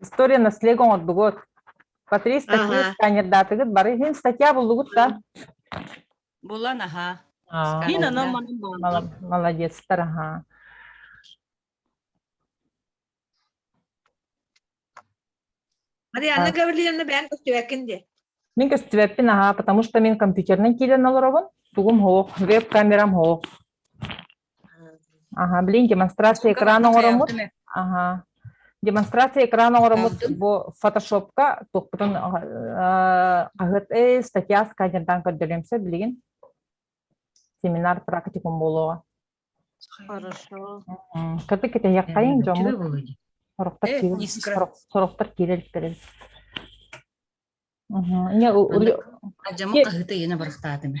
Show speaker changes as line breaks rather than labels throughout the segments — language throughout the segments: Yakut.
История наследия оҥордугут. Патрис, такие Ага. сканердаатыгыт, бары иһин статья буллугут да?
Булан аһаа. А, Мин анам манан бааллар.
мала- Молодецтар, аха.
Марианна Гаврильевна бэйэн көстүбэккин дии. Мин көстүбэппин,
аха, потому что мин компьютерынан киирэн олоробун, тугум оһох, веб-камерам оһох. Аһа, блин, демонстрация экрана оҥороммут. Аһа. Демонстрация экрана оҥороммут бу фотошопка туохпутун хаһыат статья сканердан көрдөрүөмсө билигин семинар практикум буолуоҕа. Хорошо.
Кытык
китэһиэххэйин дьоммут. Сорохтор сорохтор киирэлиттэрин.
Не, Ажама хаһыта яна барахтаатыма.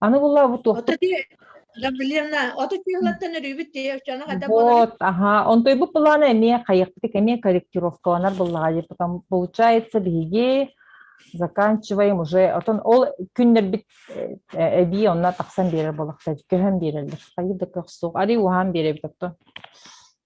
Аны буллабыт туохпут. Гаврилевна,
оту чыылаттан өрүүбүт тиэ, чоно хата Вот, аха,
онтуйбут былаана эмиэ хайахпытык эмиэ корректировкаланар буллаҕа диир потом получается биһиги заканчиваем уже отон ол күннэрбит эбии онно тахсан биэрэр болохта көһөн биэрэллэр хайыр да көх суох ари уһаан биэрэбит отто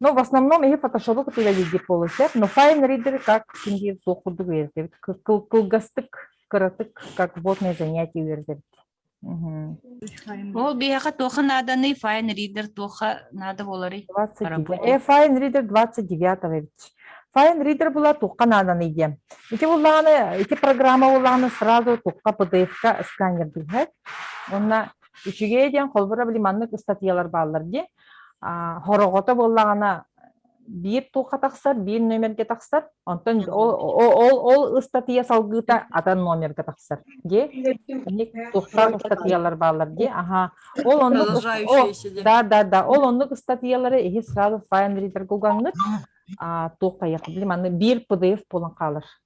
Но в основном иһи фотошопу кытыыра илдьип буолуо сөп, но fine reader как син биир суох курдук үөрэтэбит. Кыл- кылгастык, кыратык, как вводные занятия үөрэтэбит. Мгм.
Ол биһиэхэ туохха нааданый
fine reader туохха наада буоларый 29. Поработай. Э, fine reader 29 эбит. Fine reader була туохха нааданый диэн. Ити буллаҕына, ити программа буллаҕына сразу туохха PDF-ка сканер билбэт. Онно үчүгэй диэн холбура били маннык ыстатыйалар бааллар дии. Хороҕото буоллаҕына биир туха тахсар, биир номергэ тахсар, онтон ол ол ол ыстатыйа салгыыта атын номергэ тахсар дии. Тухтар ыстатыйалар бааллар дии. Аха. Ол оннук да да да ол оннук ыстатыйалары иһи сразу файл-ридер гугаҥҥыт а туох тайах билим аны биир PDF булан хаалар.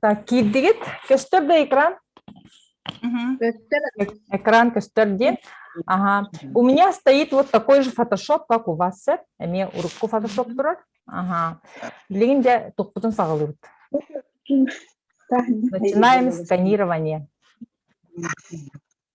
Так, киирдигит. Көстөр да экран? Көстөр. Экран көстөр диэн. Ага. У меня стоит вот такой же фотошоп, как у вас, сэр. Эмиэ урукку фотошоп турар. Ага. Билигин де топпутун саҕалыыбыт. Начинаем сканирование.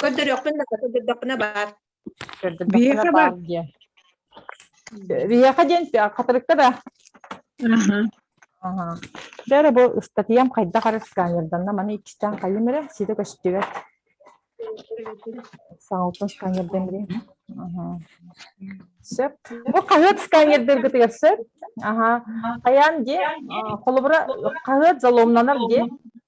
Көрдөрүөхпүн да көрдөрдөхпүнэ
баар. Биһиэхэ баар диэн. Биһиэхэ диэн хатырыктар а. Бэрэ бу ыстатыйам хайдах ары сканерданна маны иккистээн хайым эрэ сита көстүбэт. Саалтан сканердан эрэ. Сөп. Бу хаһыат сканердэргитигэр сөп. Аха. Хайаан дии холобура хаһыат заломнанар дии.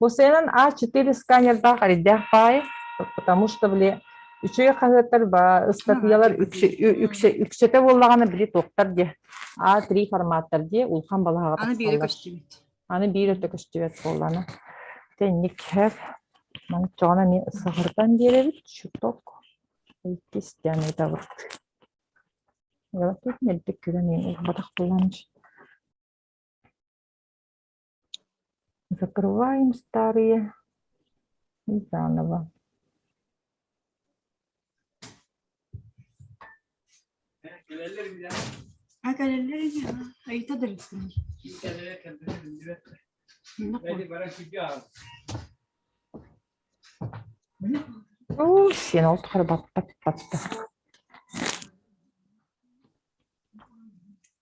Бу сыанан А4 сканердаах эрийдээх баайы, потому что били үчүгэй хаһыаттар ыстатыйалар үксэтэ буоллаҕына били туохтар диэ А3 форматтар дии улахан балаһаҕа тахсаллар.
Аны биир өттө
көстүбэт буоллана. Тэнник хэр манчоҕона мен саһырдан биэрэбит чуток иккис диэн ытабыт. Тут мелдик күрэн ылбатах буланч. Закрываем старые и заново. А кэлэллэр ини ha айыта дырыттын Оо, сен ол тухары батта батта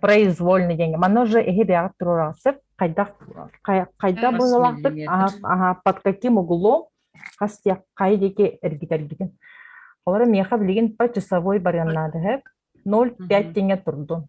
произвольный диэн оно же эһи бэҕэр туруораҕыт хайдах хайдах быһылаахтык под каким углом хас хай диэки эргитэргитин олору миэхэ билигин по часовой барыан наадыһык ноль пять тиҥэ турдун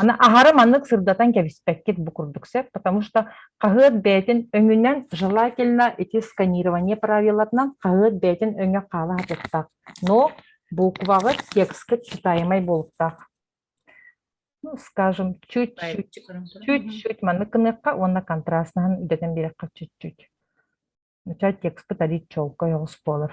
Аны аһары маннык сырдатан кэбиспэккит бу курдук сөп, потому что хаһыат бэйэтин өҥүнэн желательно эти сканирование правилатынан хаһыат бэйэтин өҥө хаала сатыахтаах. Но буукубаҕыт тексткыт читаемай буолуктаах. Ну, скажем, чуть-чуть, чуть-чуть маннык гыныахха уонна контрастнаһын үрдэтэн биэрэххэ чуть-чуть. Начать текстпыт арыт чолкой оҕус буолар.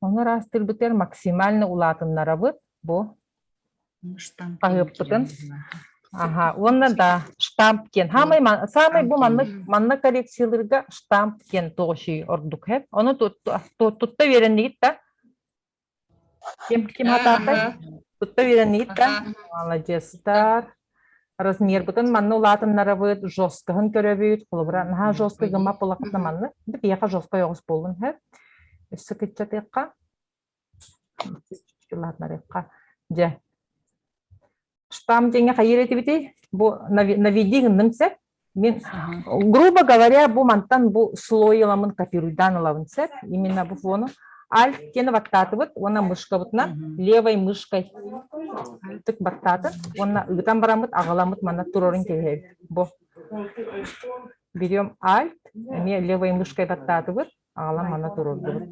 Ону ыраастыырбытыгар максимально улаатыннарабыт бу хаһыаппытын. Аха, уонна да штамп диэн саамай саамай бу манна манна коррекциялыырга штамп диэн тоҕучий ордук хэт. Ону тутта үөрэннигит да? Ким ким хатаатай? Тутта үөрэннигит да? Молодецтар. размербытын манна улаатыннарабыт жесткоһун көрөбүт холобура наһаа жесткий гыммат буоллахпытына манна биһиэхэ жесткой оҕус буоллун һэ өссө кыччатыахха улаатынарыахха дьэ штамм диэҥҥэ хайыыр этибитий бу наведи гынныҥ сеп Мен, грубо говоря, бу мантан бу слой ыламын копируйдаан ылабын сөп. Именно бу фону альт кені баттаатыбыт уонна мышкабытынан левой мышкой тык баттаатын уонна ыытан бараммыт аҕаламмыт манна турарын кэһэбит бу берем альт эмиэ левой мышкой баттаатыбыт аҕалан манна турордубут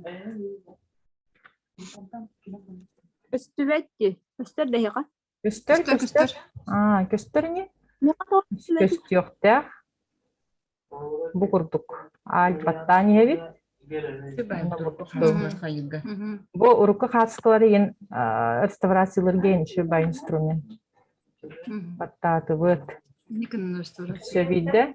Үстүбэт ди, үстэр дэһиҕэ. Көстөр,
көстөр, көстөр. Аа, көстөр ини? Көстүөхтээх. Бу курдук. Альпаттаан иһэбит. Бу урукку хаатыскалары ин реставрациялырга иншибай инструмент. Баттаатыбыт. Все виде.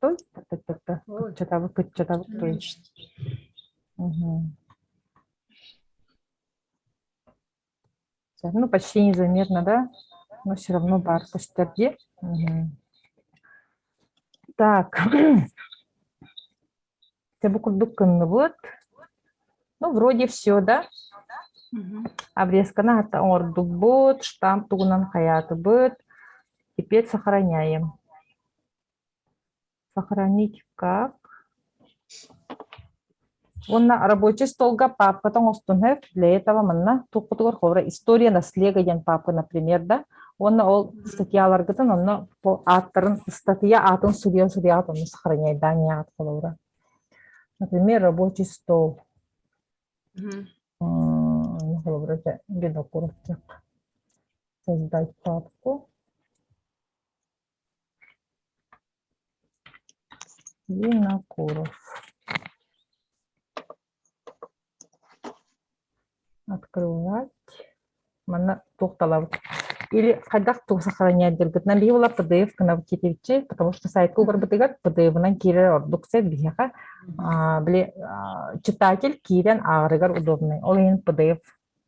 Кыччатабыт, кыччатабыт, кыч. Ну, почти незаметно, да? Но все равно бар по стороне. Так. Тебе курдук кынныбыт. Ну, вроде все, да? Обрезканы хата оҥордукбут, штамп тугунан хайаатыбыт. Теперь сохраняем. сохранить как уонна рабочий столга папката оҥостун сөп для этого манна туппутугар ховра история наследия диэн папка например да уонна ол статьяларгытын онно ааттарын ыстатыйа аатын судьуйан судьуйаат онно сохраняйдаан яаҕат холобура например рабочий стол холобура бедок курупчак создать папку винокуров открывать манна туох талабыт или хайдах туох сохраненияларгытынан биһи була пдф гынабыт китивчи потому что сайтка угарбытыгар пдфынан киирэр ордук сет биһиэхэ били читатель киирэн ааҕарыгар удобнай ол иһин пдф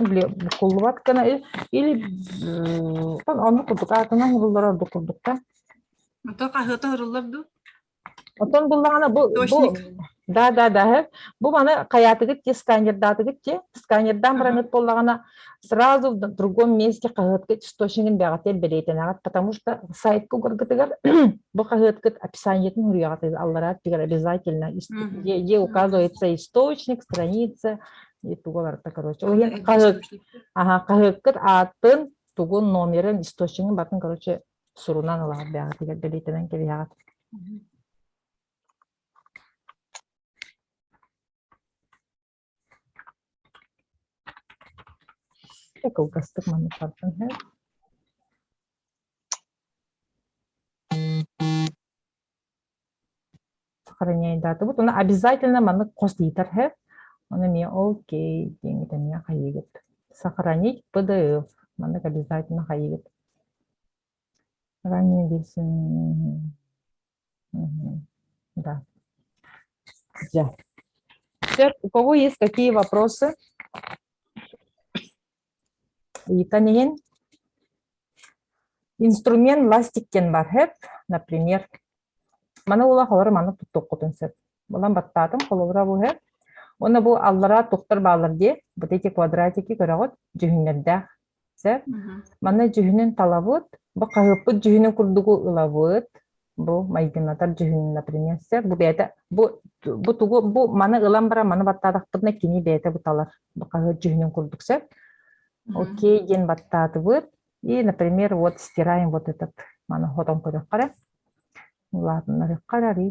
Били букуллубат гына ил или м, оннук
курдук аатынан
булуллар ордук
курдуктар. Ото
хаһыата оһоруллар дуу? Оттон буллаҕына бу бу Точник.
да да да э,
бу маны хайаатыгыт ти сканердаатыгыт ти сканердаан Ага. бараҥыт буоллаҕына сразу в другом месте хаһыаткыт источнигин бэҕэтэ бэлиэтэнэҕит потому что сайтка угаргытыгар бу хаһыаткыт описаниетин суруйаҕытыгар аллараа тигэр обязательно ис- Мгм. где где указывается источник страница И тугаларта, короче. Ойын хаһыаккыт, аха, хаһыаккыт ааттын, тугун номерын, источнигын батын, короче, сурунан ылаат бэҕэ тигэр бэлиитэнэн кэбиһэҕит. Кылгастык маннык бартын һэ. сохраняйдаатыбыт уонна обязательно маннык хос диэтэр һэ ону эмиэ окей диэҥҥит эмиэ хайыгыт сохранить pdf маннык обязательно хайыгыт ранее билсин да да Сэр, у кого есть какие вопросы? Ыйтан иһин инструмент ластик диэн бар сөп, например. Маны ула холору маннык туттуккутун сөп. Булан баттаатым холобура бу сөп. Уонна бу аллараа туттар бааллар дии, вот эти квадратики көрөҕүт, дьүһүннэрдээх сөп. Манна дьүһүнүн талабыт, бу хаһыаппыт дьүһүнүн курдугу ылабыт, бу майгынатар дьүһүн например бу бэйэтэ бу бу тугу бу маны ылан баран маны баттаатахпытына кини бэйэтэ буталар хаһыат дьүһүнүн курдук сөп окей диэн баттаатыбыт и например вот стираем вот этот маны хотон көрүөххэ эрэ улаатыннарыахха эрэ арый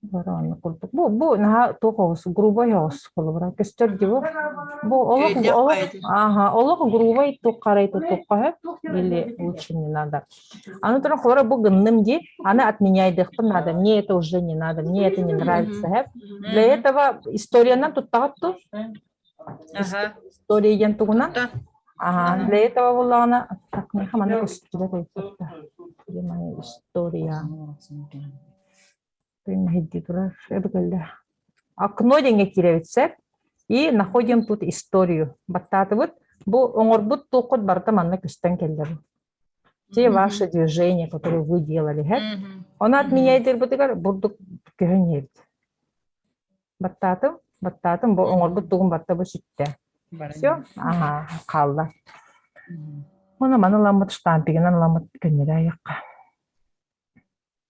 Барааны курдук. Бу, бу наһаа туох оҕус, грубой оҕус холобура. Көстөр дии бу. Бу олох, олох, ага, олох грубой туққарай тутуққаһы или лучше не надо. Аны тұрын холора бу гынным ди, аны отменяйдыхпын надо, мне это уже не надо, мне это не нравится. Для этого историядан туттағат ту, История диэн тугунан? Аһаан лэйэ таба буллаҕына сакныха маннык устура тойкутта. Димай история. Күннэһидди турар эбгэлле. Окно диэҥҥэ кирэбит сеп. И находим тут историю. Баттаатыбыт. Бу оҥорбут туоххут барыта манна көстөн кэллэр. те ваше движение, которое вы делали, эт. Ону отменяйдырбытыгар бурдук көһүн иһэрд. Баттаатым, баттаатым, бу оңорбут тугун баттабы сүттэ. Все, ага, хаалла. Мана маны ламмыт штампигынан ламмыт көннөрө айыққа.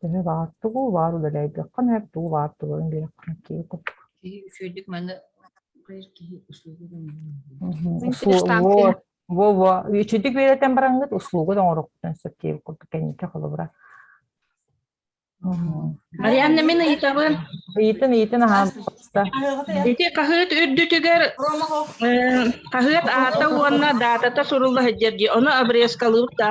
Төһө баар тугу баар үлэлэйдэххин эр тугу баар тугун биэрэххин киһи курдук.
Киһи үчүгэйдик манна киһи услуга
Во во үчүдүк үөрэтэн бараҥҥыт услугут оҥороххутун сөп киһи курдук кэнники холобура.
Марианна мин ыйытабын. Ыйытын ыйытын
аһаабыта. Ити
хаһыат үрдүтүгэр хаһыат аата уонна даатата сурулла сылдьар дии. Ону обрезкалыыбыт да.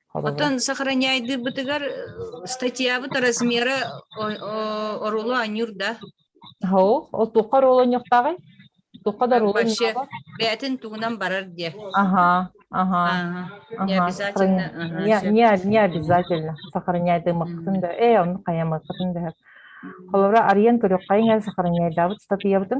Оттон
сохраняйдыыбытыгар статьябыт размера оруолу анньыыр да. Оһо, ол
туохха оруолу анньыктаҕый? Туохха да оруолу Вообще, бээтин
тугунан барар диэ. Ага, ага. Не обязательно. Не
обязательно сохраняйдыымыккытын да, э, онну хайамыккытын да. Холобура, арыйан көрүөххайын эл сохраняйдаабыт статыябытын.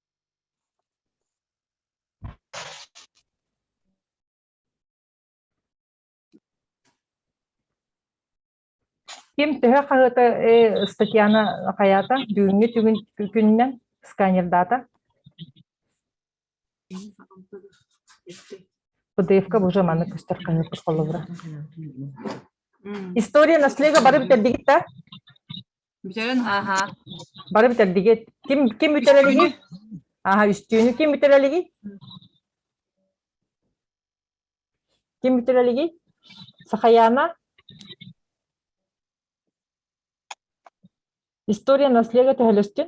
Ким төһө хаһыата э, статьяна хайаата бүгүҥҥү түгүн күнүнэн сканердата ПДФ-ка уже маны көстөр кыһыппыт холлубура. История наследия бары битэрдигит да? Бүтэрэн
ааһаа. Бары бүтэрдиги.
Ким ким бүтэр илиги? Ааха үстүүнү ким бүтэр илиги? Ким бүтэр илиги? Сахаяна? История наследия төһөлөстүн?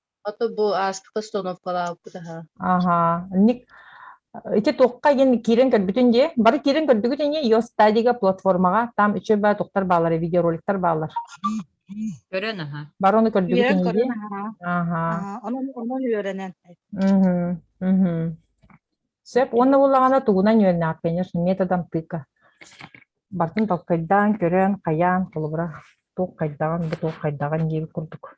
Ото бу астык остановкалаабыт аха. Аха. Ник
ити туохха ин киирэн көрбүтүн дии? Бары киирэн көрдүгүтүн дии Geostadia платформаҕа там үчүгэй баа туктар баалар видеороликтар баалар. Көрөн
аха. Бары ону көрдүгүтүн Үөрэн дии.
көрөн
аһара.
Аха. Аха, Онон онон
үөрэнэн. Мгм. Мгм.
Сөп уонна буллаҕына тугунан үөрэнэҕит кэнир методом тыка. Бартын толкайдаан, көрөн, хайаан, холобура, туох хайдаҕын, бу туох хайдаҕын диир курдук.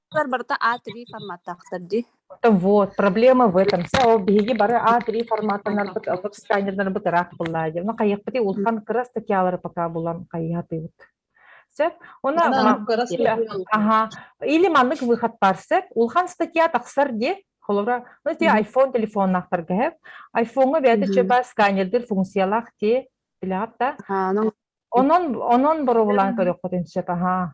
барыта A3 форматтаахтар дии. Вот, проблема
в этом. Сeo биһиги бары A3 форматтанарбыт, ылбыт сканердарбыт ыраах буоллаа диэн. Оны хайыахпытый улахан кыра статьялары пока булан хайыһатыыбыт. Сөп? Уна Ага. Или маннык выход бар сөп. Улхан статья тахсар дии. Холобра, ну те iPhone телефоннахтарга хэп. iPhone-га бэйэтэ чөбө сканердир функциялаах те билаатта. Онон онон боруолан көрөхпүтүн сөп, аха.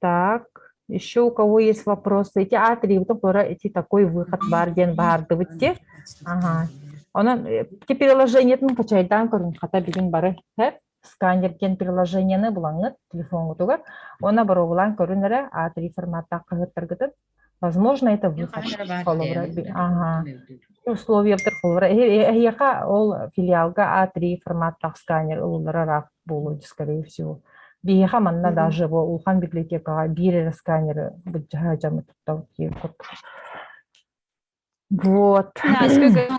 Так, еще у кого есть вопросы? Эти атрибутов, которые эти такой выход бар диэн баардыбыт те. Ага. Онон э, ти приложениетин качайдаан көрүн хата бүгүн бары хэр сканер кен приложениены булаңыт телефонгутугар. Она боробулан көрүнэрэ а3 форматта кыһыттаргытын Возможно, это Ну, хорошо, выход баар холобура диэн би аха. мөлтөт. Условиябытыгар холобура эһи эһиэхэ ол филиалга А3 формат тах сканер ылыллара ыраах буолуо скорее всего. Биһиэхэ манна Мгм. даже бу улахан библиотекаҕа биир эрэ сканеры быддьаһа дьаmme туттабыт диир курдук. Вот. Да, сколько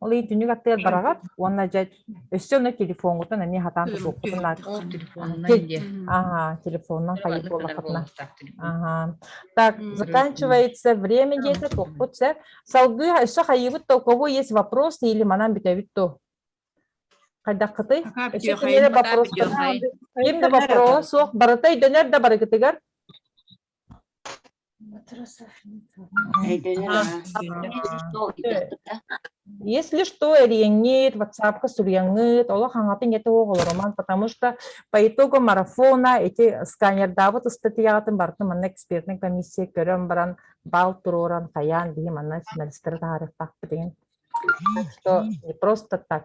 Ол ый түнүк аттыгар бараҕат уонна дьэ өссө онно телефоҥҥутун эмиэ хатаан тутуоххутун наада. Ага, телефонунан хайыт буоллаххытына. Ага. Так, заканчивается время где-то туохпут сэр. Салгыы өссө хайыыбыт то у кого есть вопросы или манан бүтэбит то? Хайдаххытый? Өссө кинилэр вопростар. Ким да вопрос суох барыта өйдөнөр да барыгытыгар. Если что, Эриэҥҥит, ватсапка суруйаҥҥыт, олох хаҥатын эти оҕолороман, потому что по итогу марафона эти сканердаабыт ыстатыйаҕытын барытын манна экспертнай комиссия көрөн баран бал туруоран хайаан биһи манна финалистары таһаарыахтаахпытын. Так что не просто так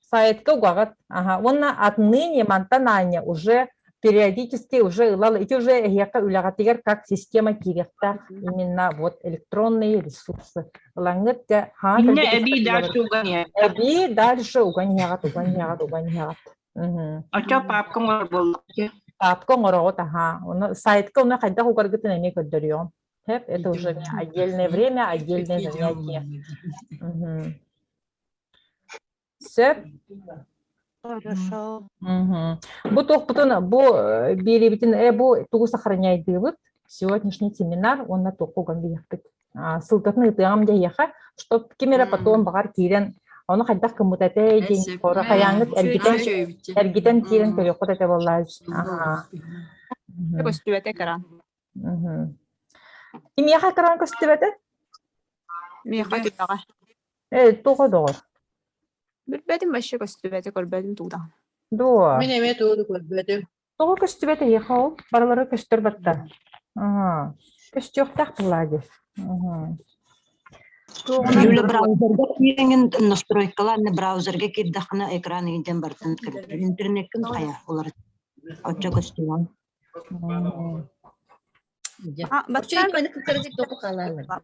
сайтка угаҕыт
ага уонна отныне мантан аанньа уже периодически уже ылал ити уже эһиэхэ үлэҕитигэр как система киириэхтээх именно вот электронные ресурсы ылаҥҥыт инне эбии дальше
угоняет эбии дальше
угоняҕат угоняҕат угоняҕат
очо папка оҥор боллоки папка
оҥороҕут аhaa оны сайтка оны хайдах угаргытын эмиэ көрдөрүөҕүм это уже отдельное время отдельное занятие Сөп. Бу туохпутун бу э, биэриибитин э бу тугу сохраняйдыыбыт сегодняшний семинар уонна туохуган диэхпит сылтатын ыытыаҕам диэхэ чтоб ким эрэ потом баҕар киирэн ону хайдах кыммыт этэй диэн хора хайаангыт эргитэн эргитэн киирэн көрүөххүт этэ боллаа көстүбэтэ
кран
кимиэхэ кран көстүбэтэ
миэхэ түбэҕэ Ээ, туох
доҕор?
Билбэтим вообще көстүбэтэ, көрбөтүм туута. Дуо? Мин эмиэ
туоду
көрбөтүм. Тоҕо көстүбэт
эһиэхэ ол? Барылары көстөр баттар. Аhaa. Көстүөхтээх тыллаа дии.
Аhaa. Юля браузерга киэҥин настройкалаан браузерга киирдэххинэ экран иһдэн бартан кірді. Интернеккін хайа олар оччо көстүмөн.
Бачча көне кытары тик току халалар.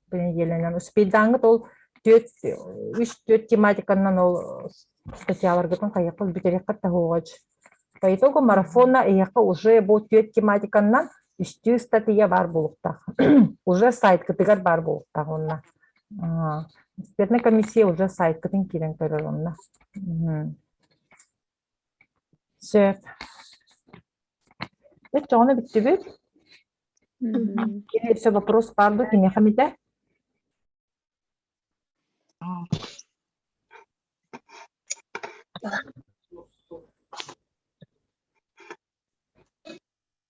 по неделянан успейдааҥҥыт ол түөрт үс-түөрт тематиканнан ол статьяларгытын хайахха бүтэриэххит таһыоҕач по итогу марафона эйиэхэ уже бу түөрт тематиканнан үстүү статья баар буолуохтаах уже сайткытыгар баар буолуохтаах онно экспертная комиссия уже сайткытын киирэн көрөр онно Сөп. Өччөҕүнэ бүттүбүт. Кини все вопрос баар да киниэхэ эмитэ.